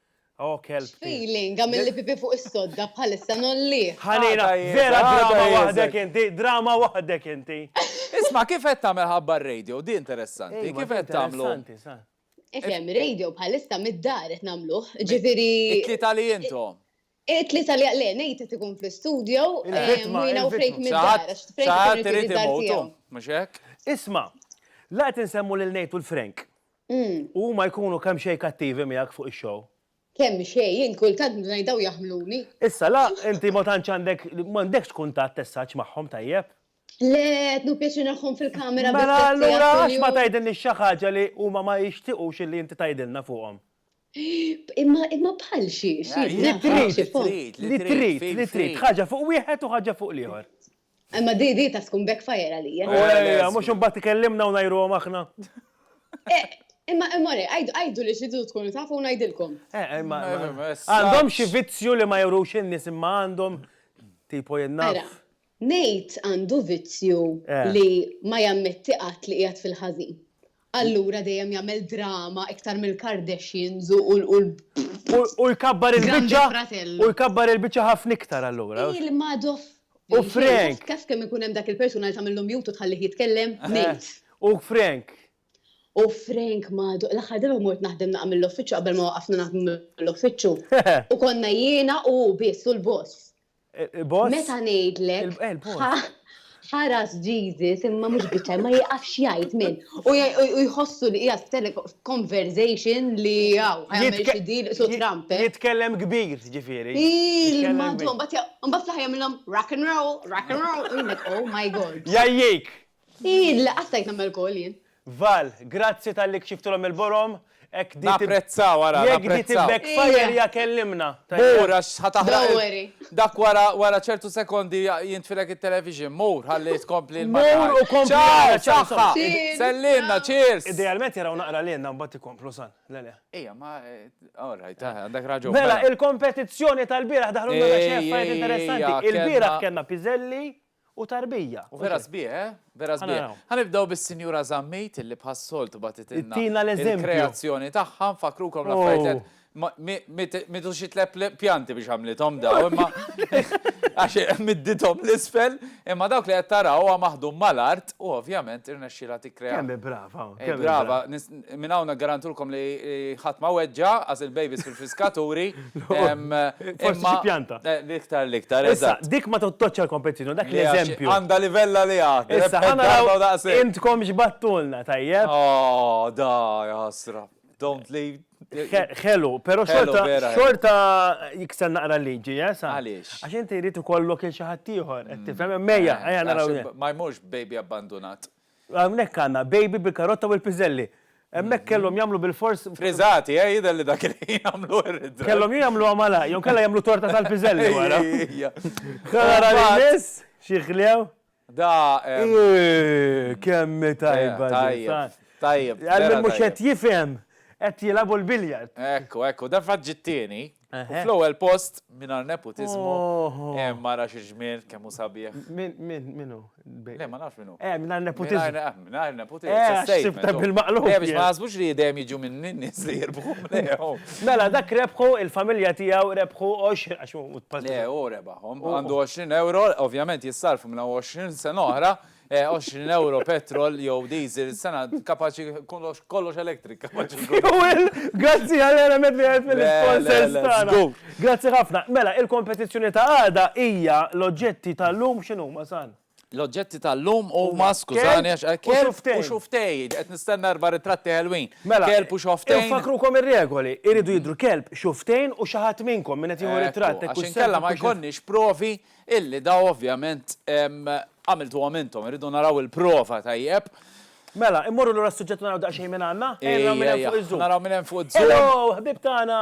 Speaker 2: Oh kelb tiegħi. X'feeling għamilli
Speaker 5: pipì fuq is-sodda bħalissa ngħollih. Ħanina, vera
Speaker 2: drama waħdek inti, drama waħdek inti. Isma' kif qed
Speaker 3: tagħmel ħabba r-radio, di interessanti, kif qed tagħmlu? Ifhem,
Speaker 5: radio bħalissa mid-dar qed nagħmluh, ġifieri. It-tlieta li
Speaker 3: intom. It-tlieta li
Speaker 5: le, Nate qed ikun fl-istudjo, Mina u Frank mid-dar. X'ħadd irid
Speaker 3: imewtu, mhux hekk? Isma',
Speaker 2: la qed insemmu lil Nate u l-Frank. U huma jkunu kemm xejn kattivi miegħek fuq ix-show. Kemm xejn,
Speaker 5: jien kultant ngħid dawn jaħmluni. Issa la, inti
Speaker 2: ma tantx għandek, m'għandekx kuntatt as such magħhom tajjeb. Le, qed
Speaker 5: nieħu pjaċir nagħhom fil-kamera biss tliet sigħat kuljum. Mela allura għax
Speaker 2: ma tgħidilniex xi ħaġa li huma ma jixtiequx li inti tgħidilna fuqhom? Imma
Speaker 5: imma bħal xi xi Li trid, li trid, li trid,
Speaker 2: li trid, ħaġa fuq wieħed u ħaġa fuq l-ieħor. Imma di di
Speaker 5: taf tkun backfire għalija. Ejja, mhux imbagħad ikellimna
Speaker 2: u ngħajruhom aħna.
Speaker 5: Imma imma le, għidu li tridu tkunu tafu u ngħidilkom.
Speaker 2: Għandhom xi vizzju li ma jurux in-nies imma għandhom, tipo jien naf. Nate
Speaker 5: għandu vizzju li ma jammetti qatt li qiegħed fil-ħażin. Allura dejjem jagħmel drama iktar mill-Kardashians
Speaker 2: u l-Grande Fratello. U jkabbar il-biċċa ħafna iktar allura. Il-Madoff.
Speaker 5: U Frank.
Speaker 2: Taf kemm ikun hemm dak
Speaker 5: il-persuna li tagħmillu mute u tħallih jitkellem? Nate. U Frank.
Speaker 2: U
Speaker 5: Frank Madoff. L-aħħar darba mort naħdem naqgħa mill-uffiċċju qabel ma waqafna naħdmu mill-uffiċċju. U konna jiena u hu biss u l-boss. Meta ngħidlek ħaras Jesus imma mhux biċċa ma jiqafx jgħid min. U jħossu li hija conversation li hawn ħajmel xi deal su Trump. Eh? Jitkellem kbir,
Speaker 2: ġifieri. Madhom,
Speaker 5: mbagħad fl-aħħar jagħmilhom rock and roll, rock and roll, oh my god. Jajjik,
Speaker 2: Ih, le, qatt
Speaker 5: stajt nagħmel goal jien. Val, grazzi
Speaker 2: talli kxiftilhom il-borom, hekk di tib. Napprezzaw
Speaker 3: ara, napprezzaw. Jekk di tib backfire
Speaker 2: ja kellimna. Mur għax ħa
Speaker 3: taħraq. Don't worry. Dak wara wara ċertu sekondi jintfilek it-television. Mur ħalli tkompli l-marka. Mur u kompli ara. Ciao,
Speaker 2: saħħa.
Speaker 3: Sellilna, cheers. Idealment jaraw naqra
Speaker 2: lilna mbagħad ikomplu san. Le le. Ejja ma
Speaker 3: all right, għandek raġun. Mela, il-kompetizzjoni
Speaker 2: tal-bieraħ daħlu lna xi affarijiet interessanti. Il-bieraħ kellna piżelli, u tarbija. U vera sbieħ, eh?
Speaker 3: Vera sbieħ. Ħa nibdew bis-Sinjura Zammit illi bħas-soltu bagħtitilna l-kreazzjoni tagħha, nfakkrukom l-affarijiet Mitu xi tlep pjanti biex għamlithom daw, imma għax middithom l-isfel, imma dawk li qed taraw huwa maħdum mal-art u ovvjament irnexxilha tikkrea. Kemm brava, kemm
Speaker 2: brava.
Speaker 3: Minn hawn niggarantulkom li ħadd ma weġġa' għax il-babies fil-friskaturi.
Speaker 2: Forsi xi pjanta. L-iktar l-iktar,
Speaker 3: eżatt. Dik ma tottoġġ
Speaker 2: għall-kompetizzjoni, u dak l-eżempju. Għandha livell għaliha.
Speaker 3: Issa ħa naraw
Speaker 2: intkom x'battulna, tajjeb? Aww, da,
Speaker 3: ja ħasra. Don't leave. Ħelu,
Speaker 2: però xorta jikser naqra l-liġi, eh, sa. Għaliex? Għax inti jrid
Speaker 3: ikollok
Speaker 2: il xi ħaddieħor, qed tifhem? Mejja, ejja naraw. Ma jmurx baby
Speaker 3: abbandunat. Hawnhekk għandna
Speaker 2: baby bil-karotta u l-piżelli. Hemmhekk kellhom jagħmlu bilfors. Friżati, eh, jidher
Speaker 3: li dak il-ħin għamluh ir-riżati. Kellhom jew jagħmluha malajr,
Speaker 2: jew inkella jagħmlu torta tal-piżelli wara. Ħa nara li jmiss, xi ħlew. Da.
Speaker 3: Eehh, kemm
Speaker 2: hi tajba din. Tajjeb, tajjeb. Għal min
Speaker 3: mhux qed
Speaker 2: jifhem, qed
Speaker 3: jilagħbu l-billiard.
Speaker 2: Ekku, ekku, dan
Speaker 3: fatt ġie
Speaker 2: t-tieni. U
Speaker 3: fl-ewwel post mingħajr nepotiżmu, hemm mara xi ġmiel kemm hu sabiħ. Min min minu?
Speaker 2: Le ma nafx
Speaker 3: minu. Eh, mingħajr nepotiżmu. Mingħajr nepotiżmu. Eh, sibta bil-maqlub.
Speaker 2: Eh, biex ma jaħsbux li
Speaker 3: dejjem jiġu minn nies li jirbħu. Mela,
Speaker 2: dak rebħu il-familja tiegħu rebħu 20 għax hu tpażżi. Le, hu rebaħhom.
Speaker 3: Għandu 20 euro, ovvjament jissarfu minn 20 sena oħra, 20 ewro petrol jew diesel sena kapaċi kollox kollox electric kapaċi. Grazzi
Speaker 2: għal element li għed mill-sponsors tagħna. Grazzi ħafna. Mela, il-kompetizzjoni ta' għada hija l-oġġetti tal-lum x'inhuma san? L-oġġetti tal-lum
Speaker 3: u ma skużani għax eh, kelb u xuftej, qed nistenna erba' ritratti ħelwin. Mela, kelb u xuftej. Fakrukom ir-regoli,
Speaker 2: iridu jidru kelb, xuftejn u xi ħadd minnkom minn qed jieħu ritratt. Għax inkella ma jkollniex
Speaker 3: provi Illi dawn ovvjament għamiltuhom intom, irridu naraw il-prova tajjeb. Mela, immorru
Speaker 2: lura s-suġġett u naraw daqsxejn min għandna? Ejja naraw min hemm fuq iz-zoom. Naraw
Speaker 3: min hemm fuq iz-zoom. Hello, ħbieb tagħna!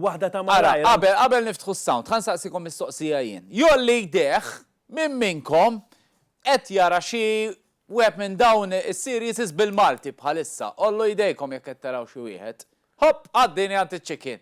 Speaker 2: Waħda ta' malajr. Ara, qabel, qabel niftħu s-sound,
Speaker 3: ħa nsaqsikom mistoqsija jien. Jgħolli jdejh min minnkom qed jara xi wieħed minn dawn is-series bil-Malti bħalissa. Għollu jdejkom jekk qed taraw xi wieħed. Ħopp, għaddini għand iċ-chicken.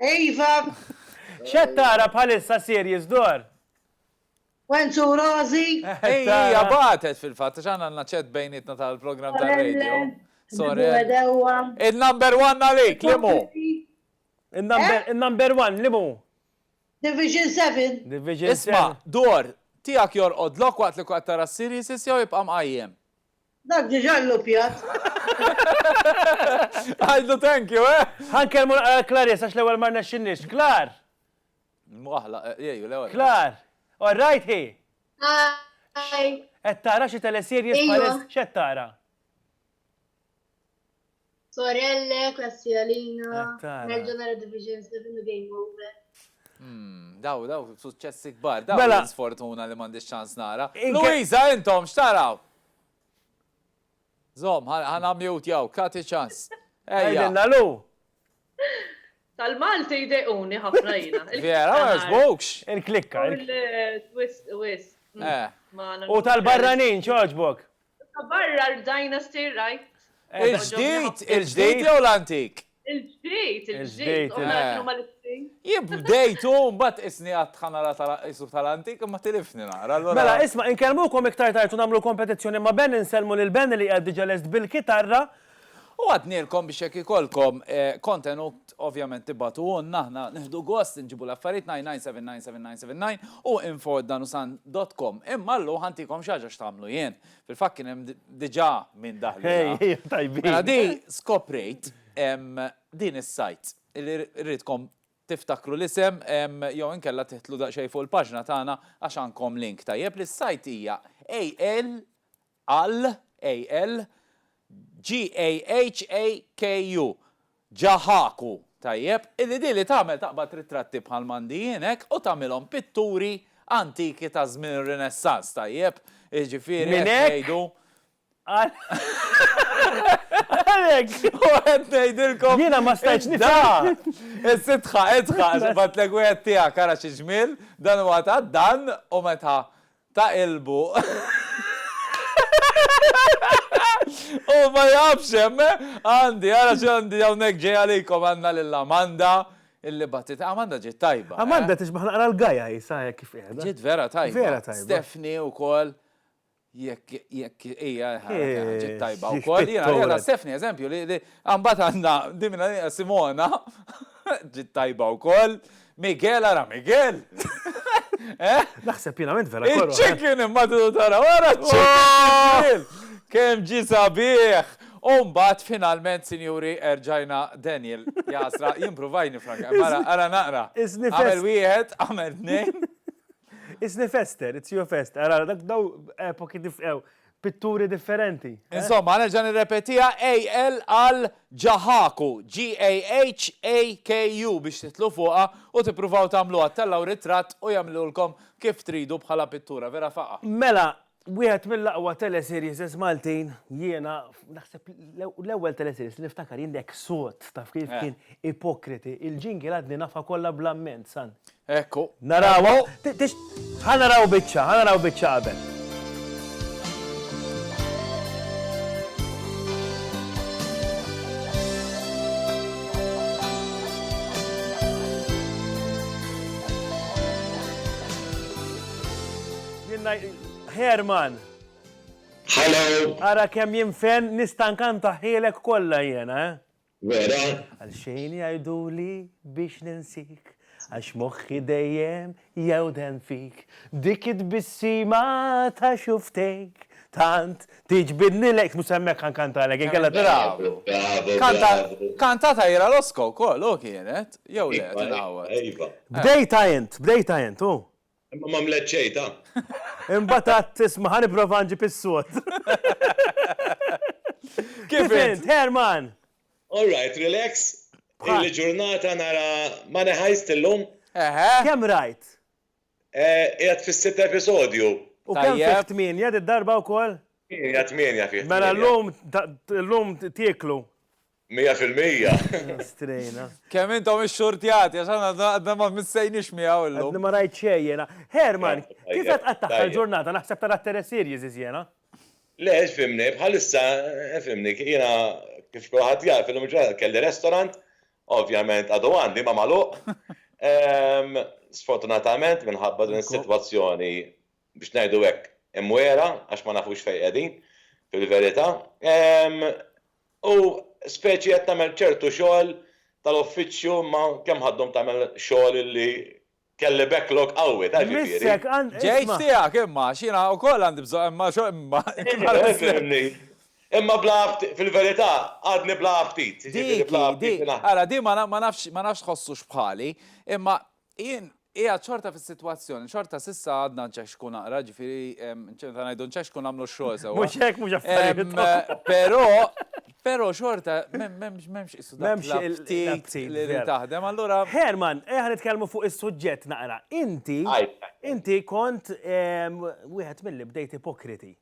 Speaker 11: Iva!
Speaker 2: X'qed tara bħalissa series dor?
Speaker 11: Wenz u Rożi. Hija
Speaker 3: bagħtet fil-fatt għax aħna għandna ċett bejnietna tal-programm tar-radio. Sorel. Il-number one għalik, limu? Il-number
Speaker 2: one, limu?
Speaker 11: Division 7. Division 7. Isma',
Speaker 2: dor,
Speaker 3: tiegħek jorqodlok waqt li qed tara s-series jew jibqa' mqajjem? Dak diġà
Speaker 11: lluppjat.
Speaker 3: Għidlu thank you, eh! Ħa nkellmu naqra lil
Speaker 2: Clarice għax l-ewwel ma rnexxinniex. Clar! Mwaħħla,
Speaker 3: jgħu l-ewwel. Clar! All
Speaker 2: right hi? Hi!
Speaker 11: Qed tara
Speaker 2: xi teleseries bħalissa? X'qed tara?
Speaker 11: Sorelle, klassi għalina, nerġa nara Division 7 u Game Over. Hmm, daw,
Speaker 3: daw, suċċessi kbar, daw, mela. sfortuna li mandi ċans nara. Luisa, intom, xtaraw? Zom, ħana mjut jaw, kati ċans. Ejja. Nalu.
Speaker 2: Tal-Malti
Speaker 6: jdejquni ħafna jina. Vera, ma jazbukx.
Speaker 3: Il-klikka.
Speaker 2: Il-twist,
Speaker 6: twist. Eh.
Speaker 2: U tal-barranin, ċoġbok. Ta'
Speaker 6: barra l-bdajna stir right.
Speaker 3: Il-ġdid, il-ġdid jew l-antik? Il-ġdid,
Speaker 6: il-ġdid, u mela x'inhuma l-istejn? Jien
Speaker 3: bdejt u mbagħad qisni għadt ħa nara ta' qisu tal-antik imma tilifni naqra allura. Mela isma' inkellmukom
Speaker 2: iktar tard u nagħmlu l-kompetizzjoni ma' Ben insellmu lil Ben li qiegħed diġa' lest bil-kitarra U
Speaker 3: għadnielkom biex jekk ikollkom kontenut ovvjament tibgħatuhulna aħna nieħdu gost inġibu l-affarijiet 99799799 u info@danusan dot com. Imma llu ħa ntikom xi ħaġa x'tagħmlu jien. Fil-fatt kien hemm diġà min daħlilha. Ejja tajbin. Mela di skoprejt din is-sajt li rridkom tiftakru l-isem jew inkella tiħtlu daqsxejn fuq il-paġna tagħna għax għandkom link tajjeb li s-sajt hija AL Għall, AL, GHAKU, Ġaħaku, tajjeb, illi din li tagħmel taqbad ritratti bħal m'għandi jien hekk u tagħmilhom pitturi antiki ta' żmien ir-Rinessans, tajjeb, jiġifieri qed ngħidu.
Speaker 2: U qed
Speaker 3: ngħidilkom. Jiena ma stajtx
Speaker 2: nifhem. Is-sidħa,
Speaker 3: idħaq, bgħatlek wieħed tiegħek ara xi ġmiel, dan huwa ta' dan u meta ta' qilbu. Hu ma jafx hemm, eh! Għandi, ara x'għandi hawnhekk ġej għalikom, għandna lil Amanda illi bagħtitlna. Amanda ġiet tajba, eh! Amanda tixbaħ naqra
Speaker 2: l-Gaia hi sa hekk kif qiegħda. Ġiet vera tajba. Vera
Speaker 3: tajba. Stephanie
Speaker 2: wkoll
Speaker 3: jekk jekk hija ġiet tajba wkoll. Jiena qiegħda Stephanie eżempju li li imbagħad għandna din minn għalija Simona ġiet tajba wkoll. Miguel ara Miguel! Eh?
Speaker 2: Naħseb
Speaker 3: pienament vera
Speaker 2: kollu.
Speaker 3: Chicken imma
Speaker 2: tidu
Speaker 3: tara wara chicken! Kemm ġi sabiħ! U mbagħad finalment, sinjuri, erġajna Daniel jasra, jimprovaj nifranka. Mara, ara naqra. Għamel wieħed, għamel tnejn. Isni
Speaker 2: fester, it's your fest. Ara, dak daw epoki nifqew. pitturi differenti. Insomma, nerġa'
Speaker 3: nirrepetiha, AL għal Ġaħaku, G-A-H-A-K-U biex tidħlu fuqha u tippruvaw tagħmluha, ttellgħu ritratt u jagħmlulkom kif tridu bħala pittura vera faqgħa. Mela, wieħed
Speaker 2: mill-aqwa teleseriesses Maltin, jiena naħseb l-ewwel teleseriess li niftakar jien The Exot, taf kif kien ipokriti, il-jingle għadni nafha kollha bl-amment, san. Hekk hu. Naraw
Speaker 3: hawn.
Speaker 2: Ħa naraw biċċa, ħa naraw biċċa qabel. Herman.
Speaker 12: Hello. Ara kemm
Speaker 2: jinfen nistankan taħħielek kollha jiena, eh? vera?
Speaker 12: Għal xejn
Speaker 2: jgħiduli biex ninsik Għax moħħi dejjem jewden fik Dik it-tbissima ta' xuftejk Tant tiġbidni lejk Mhux hemmhekk ħa nkantalek inkella Bravo, bravo, bravo. Kantat
Speaker 3: Aira Losco wkoll, hu kienet? Jew le, qed inħawwad. Iva, iva. Bdejtha int,
Speaker 2: bdejtha int, hu. Imma m'għamlet
Speaker 12: xejn ta. Imbagħad
Speaker 2: għadt, isma' ħa nipprova nġib is-sod. Kif int, Herman? All right,
Speaker 12: relax. Illi ġurnata nara Money Heist illum. Eħe. Kemm rajt? Qiegħed fis-sitt episodju. U kemm fih
Speaker 2: tmienja did-darba wkoll? Tmienja, tmienja
Speaker 12: fih. Mela llum,
Speaker 2: llum tieklu. Mija fil-mija!
Speaker 12: Għadna strejna.
Speaker 2: Kemm intom
Speaker 3: ixxurtjati, għax aħna għadna ma missejniex miegħu illum. Għadni ma rajt xejn jiena.
Speaker 2: Herman, kif qed tqattagħha l-ġurnata, naħseb tara t-teleseries iżjena? Le,
Speaker 12: fhimni, bħalissa, fhimni, jiena kif kulħadd jaf, illum il-ġurnata kelli restaurant, ovvjament għadu għandi imma magħluq, sfortunatament minħabba din is-sitwazzjoni biex ngħidu hekk, imwiegħra għax ma nafux fejn qegħdin fil-verità. U speċi qed tagħmel ċertu xogħol tal-uffiċċju imma kemm ħadhom tagħmel xogħol li kelli backlog qawwi, taf jiġifieri. Ġejt tiegħek
Speaker 3: imma għax jiena wkoll għandi bżonn imma xogħol. Imma
Speaker 12: bla fil-verità għadni bla aptit. Dik hi,
Speaker 3: dik. Ara din ma nafx tħossux bħali imma Jien qiegħed xorta fis-sitwazzjoni, xorta s'issa għadna nċexxku naqra, ġifieri ċemta ngħidu nċexxku nagħmlu x-xogħol sewwa. Mhux hekk mhux affarijiet.
Speaker 2: Però però
Speaker 3: xorta m'hemmx issu ftit li taħdem allura. Herman, eħa nitkellmu
Speaker 2: fuq is-suġġett naqra. Inti inti kont wieħed milli bdejt ipokriti.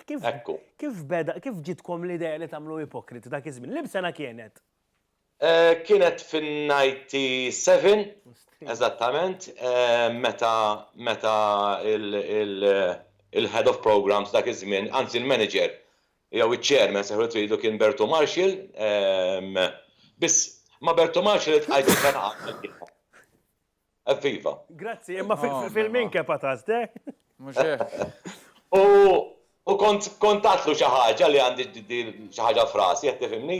Speaker 2: Kif beda kif ġitkom l-idea li tagħmlu ipokriti dak iż-żmien? Libsena kienet?
Speaker 12: Kienet fin-97 eżattament meta meta il-Head of Programmes dak iż-żmien, anzi l-Manager jew iċ-Chairman sejħulu kif tridu kien Bertu Marshall, biss ma' Bertu Marshall iltqajt f'Kanaqa. Evviva. Grazzi, imma
Speaker 2: fil-min kepa ta' zdek.
Speaker 12: U kont tatlu xi ħaġa li għandi xi ħaġa frasi, qed tifhimni?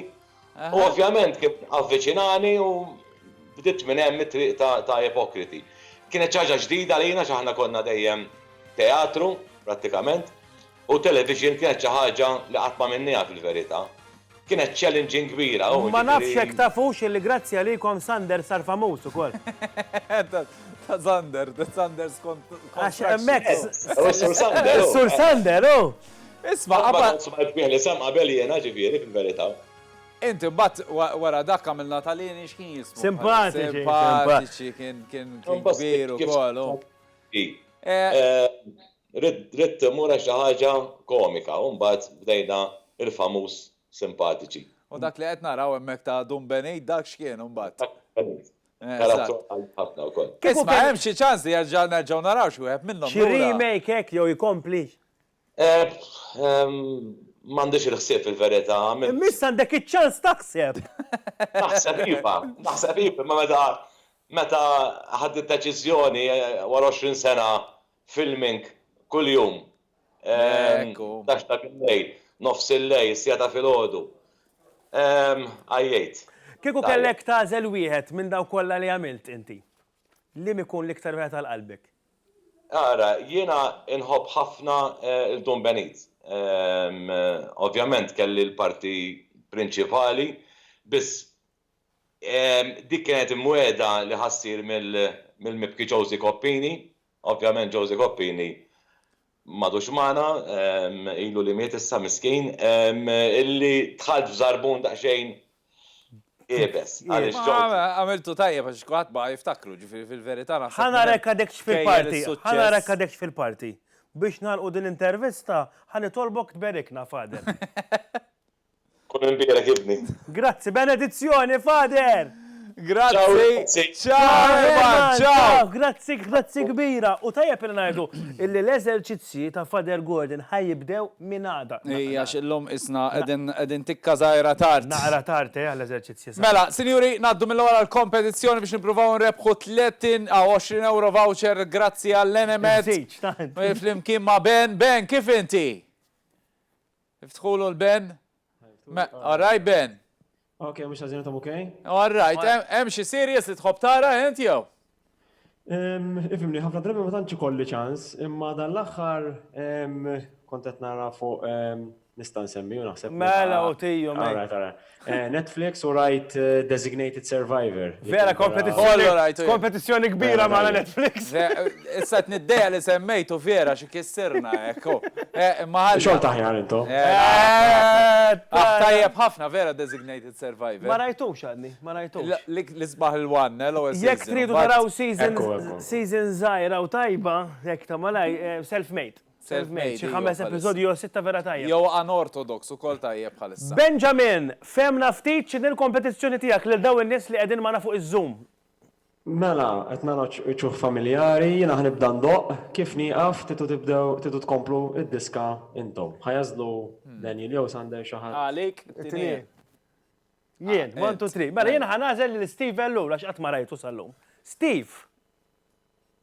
Speaker 12: U ovvjament kien avviċinani u bdiet minn hemm it-triq ta' ipokriti. Kienet xi ħaġa ġdida lina x'aħna konna dejjem teatru, prattikament, U television kienet xi ħaġa li qatt m'għamilnieha fil-verità. Kienet challenging kbira, oh, jiġifieri. Ma nafx jekk
Speaker 2: tafux li grazzi għalikom Sanders sar famuż ukoll.
Speaker 3: Ta' Sander, ta' Sanders kont. Għax hemmhekk.
Speaker 2: Is-Sur Sander.
Speaker 12: Is-Sur Sander,
Speaker 2: oh. Isma' qabad.
Speaker 3: Smajt bih l-isem
Speaker 12: qabel jiena ġifieri fil-verità. Inti mbagħad
Speaker 3: wara dak għamilna tal-għini x'kien jismu? Simpatiċi. Simpatiċi
Speaker 2: kien
Speaker 3: kbir ukoll, oh.
Speaker 12: Ridt immur għal xi ħaġa komika u mbagħad bdejna il-famuż simpatiċi. U dak li qed
Speaker 3: naraw hemmhekk ta' Dun Benit dak x'kien imbagħad? Karattru qalb ħafna wkoll. Isma' hemm xi ċans li jerġa' nerġgħu naraw xi wieħed minnhom lura? Xi remake hekk
Speaker 2: jew ikompli?
Speaker 12: M'għandix il-ħsieb fil-verità. Imma issa għandek
Speaker 2: iċ-ċans taħseb! Naħseb
Speaker 12: iva, naħseb iva, imma meta meta ħadt id-deċiżjoni wara għoxrin sena filming kuljum. Tax ta' bil-lejl, nofs il-lejl, siegħa ta' filgħodu. Għajjejt. Kieku kellek
Speaker 2: tagħżel wieħed minn dawk kollha li għamilt inti, liem ikun l-iktar wieħed għal qalbek? Ara,
Speaker 12: jiena
Speaker 2: nħobb
Speaker 12: ħafna
Speaker 2: l-Dun
Speaker 12: Benit. Ovvjament kelli l-parti prinċipali, biss Dik kienet imwiegħda li ħa ssir mill-Mibki Josy Coppini. Ovvjament Josy Coppini m'għadux magħna, ilu li miet issa miskin, illi dħalt f'żarbun daqsxejn iebes. Għamiltu
Speaker 3: tajjeb għax kulħadd baqa' jiftakru, ġifieri fil-verità naħseb. Ħa narek għadekx
Speaker 2: fil-parti, ħa narek għadekx fil-parti. Biex nagħlqu din l-intervista, ħa nitolbok tberikna, Father.
Speaker 12: Kun imbierek ibni. Grazzi, benedizzjoni
Speaker 2: Father! Grazzi,
Speaker 3: ciao Herman, ciao! Grazzi, grazzi
Speaker 2: kbira. U tajjeb li ngħidu illi l-eżerċizzji ta' Father Gordon ħa jibdew minn għada. Ejja għax illum qisna
Speaker 3: qegħdin tikka żgħira tard. Naqra tard eh
Speaker 2: għall-eżerċizzji. Mela, sinjuri,
Speaker 3: ngħaddu mill-ewwel għall-kompetizzjoni biex nippruvaw nrebbħu 30 aw 20 ewro voucher grazzi għall-Enemed. Flimkien ma' Ben. Ben, kif inti? Iftħulu l-ben. All right Ben. Ok, mhux ħażin
Speaker 13: intom ok? All right,
Speaker 3: hemm xi series li tħobb tara int jew?
Speaker 13: Ifimni, ħafna drabi ma tantx ikolli ċans, imma dan l-aħħar kont qed nara fuq nista' nsemmi u naħseb. Mela u tiju. All
Speaker 2: right, all right.
Speaker 13: Netflix u rajt Designated Survivor. Vera
Speaker 2: kompetizzjoni kbira ma' Netflix. Issa
Speaker 3: t-niddeja li semmejtu vera xi kissirna ekku. Xogħol
Speaker 13: taħjar intom.
Speaker 3: Tajjeb ħafna vera Designated Survivor. Ma rajtux għadni,
Speaker 2: ma rajtux. L-isbaħ il-one,
Speaker 3: l-ewwel season. Jekk tridu taraw
Speaker 2: season żgħira u tajba, jekk ta' malaj, Self Made. Self-made, xi ħames episodji jew sitta vera tajjeb. Jew unorthodox
Speaker 3: ukoll tajjeb bħalissa. Benjamin, fehmna
Speaker 2: ftit x'inhi l-kompetizzjoni tiegħek lil dawn in-nies li qegħdin magħna fuq iż-Zoom. Mela,
Speaker 13: qed nara wċuħ familjari, jiena ħa nibda ndoqq, kif nieqaf titu tibdew titu tkomplu id-diska intom. Ħa jagħżlu Daniel jew Sander xi ħadd. Għalik
Speaker 2: it-tieni. Jien, one two three. Mela jiena ħa nagħżel lil Steve Ellul għax qatt ma rajtu sal-lum. Steve!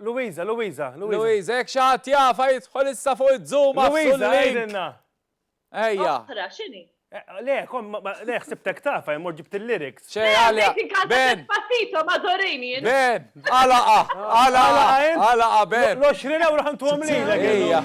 Speaker 2: Louisa, Louisa, Louisa. Louisa, jekk xi ħadd
Speaker 3: jafha jidħol issa fuq iż-Zoom għafsu l-link. Louisa, għidilna.
Speaker 2: Ejja.
Speaker 6: Oħra, x'inhi? Le, kom,
Speaker 2: le, ħsibtek tafa, jmur ġibt il-lyrics. ċe, għalja.
Speaker 3: Ben. Passito, mażorini.
Speaker 6: Ben, għalaqa,
Speaker 3: għalaqa, għalaqa, ben. L-20 euro ħantu
Speaker 2: għamlilek. Ejja.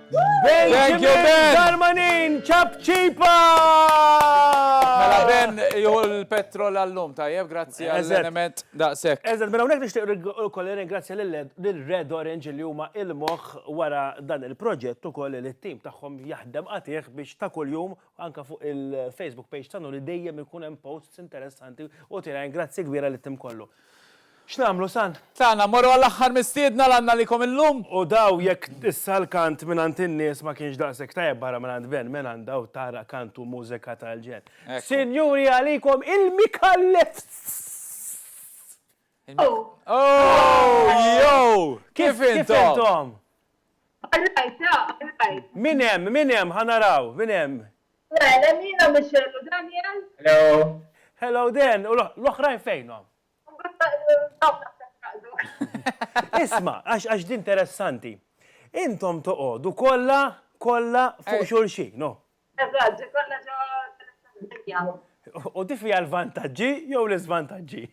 Speaker 3: Thank you, Ben! Darmanin,
Speaker 2: ċapċipa!
Speaker 3: Mela Ben, ju l-petrol għallum, tajjeb, grazzi għall-element daqsek. Eżed, mela unek nishtiq
Speaker 2: ukoll ringrazzja l-Red Orange li huma il-moħ wara dan il-proġett ukoll li t-tim tagħhom jaħdem għatih biex ta' kuljum anka fuq il-Facebook page tagħna li dejjem ikun hemm posts interessanti u tina grazzi kbira li tim kollu. X'nagħmlu, San? Tagħna, mmorru għall-aħħar
Speaker 3: mistiedna l għandna għalikom illum? U daw, jekk
Speaker 2: issa l-kant mingħand in-nies ma kienx daqshekk tajjeb barra mingħand Ben Menan daw tara kant u mużika tal-ġenn. Sinjuri għalikom il-Micallefs!
Speaker 3: Ooh! Ooh! Yow! Kif intom? All right, ta, all right.
Speaker 2: Min hemm, min hemm, ħa naraw, min hemm? Well, hemm jiena
Speaker 11: Michelle u Daniel.
Speaker 2: Hello. Hello Dan, u l-oħrajn fejnhom? Isma, għax din interessanti. Intom toqodu kolla, kolla fuq xulxin, no? Eżatt, kolla
Speaker 11: ġo dinja. U tifi
Speaker 2: għal vantaġġi jew l-iżvantaġġi?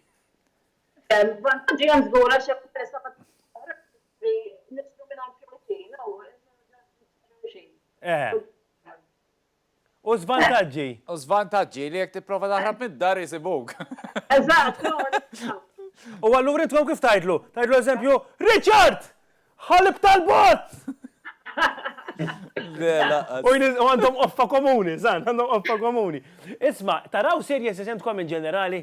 Speaker 11: Vantaġġi għan zgura xe peressa Li nifslu minn għand xulxin u xulxin.
Speaker 2: Eħe. U żvantaġġi? U żvantaġġi
Speaker 3: li jekk tipprova taħrab mid-dar isibuk. Eżatt,
Speaker 2: U allura intom kif tgħidlu? Tgħidlu eżempju, Richard! Ħalib tal-bot! U għandhom offa komuni, san, għandhom offa komuni. Isma, taraw serje sesentkom in ġenerali?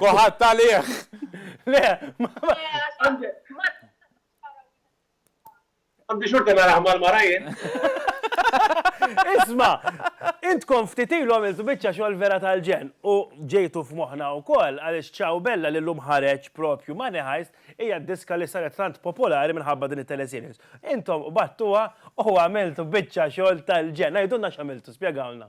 Speaker 3: Koħat tal-iħ. Le, Għandi
Speaker 7: xorta nara ħmal marajin.
Speaker 2: Isma, intkom ftit ilu għamiltu biċċa xogħol vera tal-ġen u ġejtu f'moħħna wkoll għaliex Ciao Bella li llum ħareġ propju Money Heist hija diska li saret tant popolari minħabba din it-teleseries. Intom qbadtuha u għamiltu biċċa xogħol tal-ġen. Għidulna x'għamiltu, spjegawlna.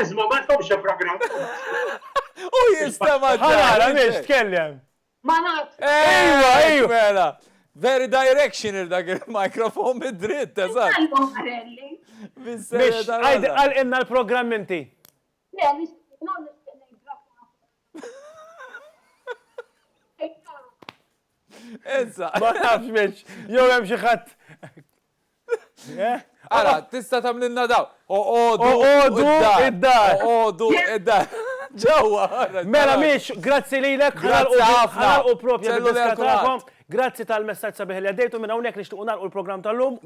Speaker 3: Iżma
Speaker 7: ma
Speaker 3: tkomx xi programm. U jistema ġara biex
Speaker 2: tkellem. Ma naf.
Speaker 11: Ejwa, ejwa.
Speaker 3: Mela. Very directional dak il-mikrofon mid-dritt, eżatt.
Speaker 2: Biex għal inna l-programm inti. Le,
Speaker 3: nistenna Issa. Ma nafx biex,
Speaker 2: jew hemm xi ħadd
Speaker 3: Ara, tista tamlinna daw. Oqodu
Speaker 2: id-dar. Oqodu
Speaker 3: id-dar. Ġewwa.
Speaker 2: Mela miex, grazzi li l-ek. Grazzi ħafna. U propja l-diskatakom. Grazzi tal-messagġ sabiħ li għaddejtu minn hawnhekk li xtuqu nagħlqu l-programm tal-lum.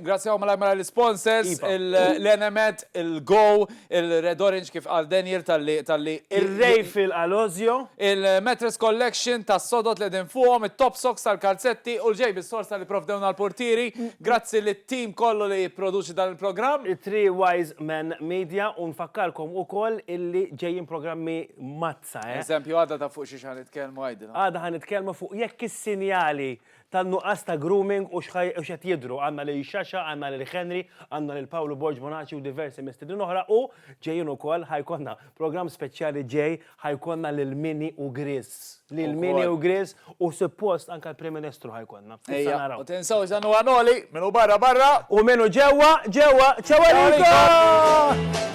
Speaker 2: Grazzi għaw malaj malaj
Speaker 3: l-sponsors, l-Enemet, il-Go, Il-Red Orange kif qal Daniel talli talli. Ir-Ray
Speaker 2: fil-Qalosio. Il-Mattress
Speaker 3: Collection tas-sodod li qegħdin fuqhom, it-Top Socks tal-kalzetti u l-JB Sorsa li pprovdewna l-purtieri. Grazzi lit-team kollu li jipproduċi dan il-programm. Three Wise
Speaker 2: Men Media u nfakkarkom ukoll illi ġejjin programmi mazza eh! Eżempju għada ta' fuq
Speaker 3: xiex ħa nitkellmu għidilha. Għada ħa nitkellmu fuq
Speaker 2: jekk is-sinjali tan-nuqqas ta' grooming u x'qed jidhru, għandna lil Xaxa, għandna lil Henry, għandna lil Pawlu Borg Bonaċi u diversi mistiednin oħra u ġejjin ukoll ħa jkollna programm speċjali ġej ħa jkollna lil Mini u Grizz. Lil Mini u Grizz u suppost anke l-Prim Ministru ħa jkollna. Issa naraw. Ejja, u tinsewx
Speaker 3: dan huwa Noli, min hu barra barra.
Speaker 2: U
Speaker 3: min hu ġewwa ġewwa.
Speaker 2: Ċaw għalikom!